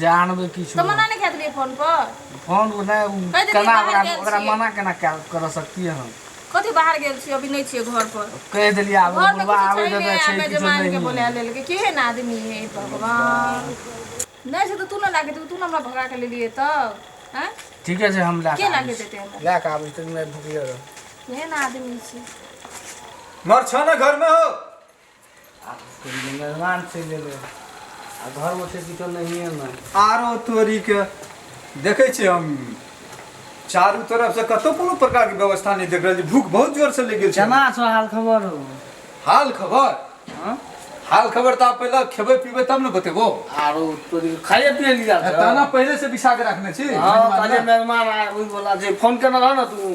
जानबे किछु तो मना नहीं खेतलिए फोन पर फोन को नहीं कहि देती केना बाहर ओकरा गेल ओकरा छियै। मना केना कर कर सकतिए हम कथी बाहर गेल छी अभी नहीं छिए घर पर कह देलिए आब घर में बुढ़वा कुछ आबे छै देबे नहीं छै आबे किछु जमान के नहीं बोला लेल के केहन आदमी है हे भगवान नहीं से तो तू ना लाके तू तू ना हमरा भगा के ले लिए तब हैं ठीके छै हम ला के लाके देते हमरा ला के आबै छै मैं भूखले रह केहन आदमी छी मर छ न घर में हो मेहमान चलि एलै आ घरमे छै किछो नहिए ने आरो तोरीके देखै छियै हम चारू तरफ से कतौ कोनो प्रकार के व्यवस्था नहीं देख रहल छी भूख बहुत जोर से लग गेल छै केना छौ हाल खबर हो हाल खबर हाँ? हाल खबर तऽ आब पहिले खेबै पीबै तब ने बतेबो आरो तोरी खाइए पिए लिया ताना पहिले से बिछा के रखने छी हाँ ताजे मेहमान आए ओहि बोला जे फोन केना रह ना तू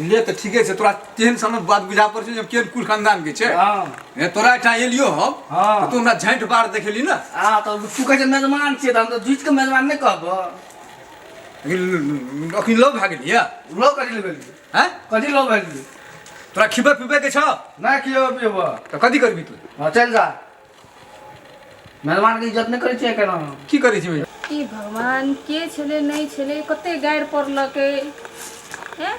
ले तऽ ठीके छै तोरा तेहन समझ बात बुझा पड़ छै जे केहन कुल खानदान के छै हाँ हे तोरा एहिठाम एलियो हम हाँ। तऽ तू हमरा झाँट बार देखेली ने आ तो तू कहे छै मेजबान छियै तऽ हम तो जुझ के मेजबान नहीं कहबो अखन अखन लोग भए गेलियै लो कथी ले गेली हैं कथी लो गेली तोरा खिबे पिबे के छौ ना कियो पियबो तऽ कथी करबी तू हाँ चल जा मेहमान के इज्जत नहि करै छियै केना की करै छियै ई भगवान के छलै नहि छलै कते गारि पड़लकै हैं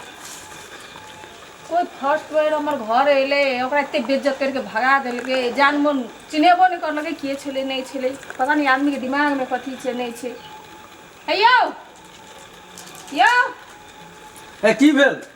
कोइ फर्स्ट बेर हमर घर अयलै ओकरा एते बेज्जत करिके भगा देलकै जान मन चिन्हेबो नहि करलकै के छलै नहि छलै पता नहि आदमीके दिमागमे कथी छै नहि छै हे यौ यौ ए की भेल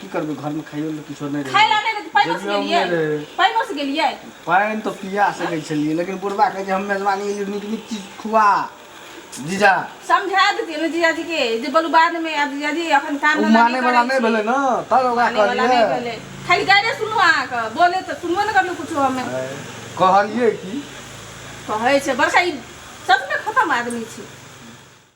की करबै घरमे खाइयो लए किछो नहि रहै खाइला नहि रहै पाइनो से गेलियै पाइनो से गेलियै पानि तऽ पिया सकै छलियै लेकिन बुढ़बा कहै छै हम मेजबानी एलियै नीक नीक चीज खुआ जीजा समझा देतियै ने जीजा जी के जे बोलू बाद में आब जीजा जी अखन काम ओ माने वाला नहि भेलै ने तब ओकरा कहलियै खाली गाइडे सुनू अहाँके बोले तऽ सुनबो नहि करलहुँ कुछो हमे कहलियै की कहै छै बड़का ई सचमे खतम आदमी छै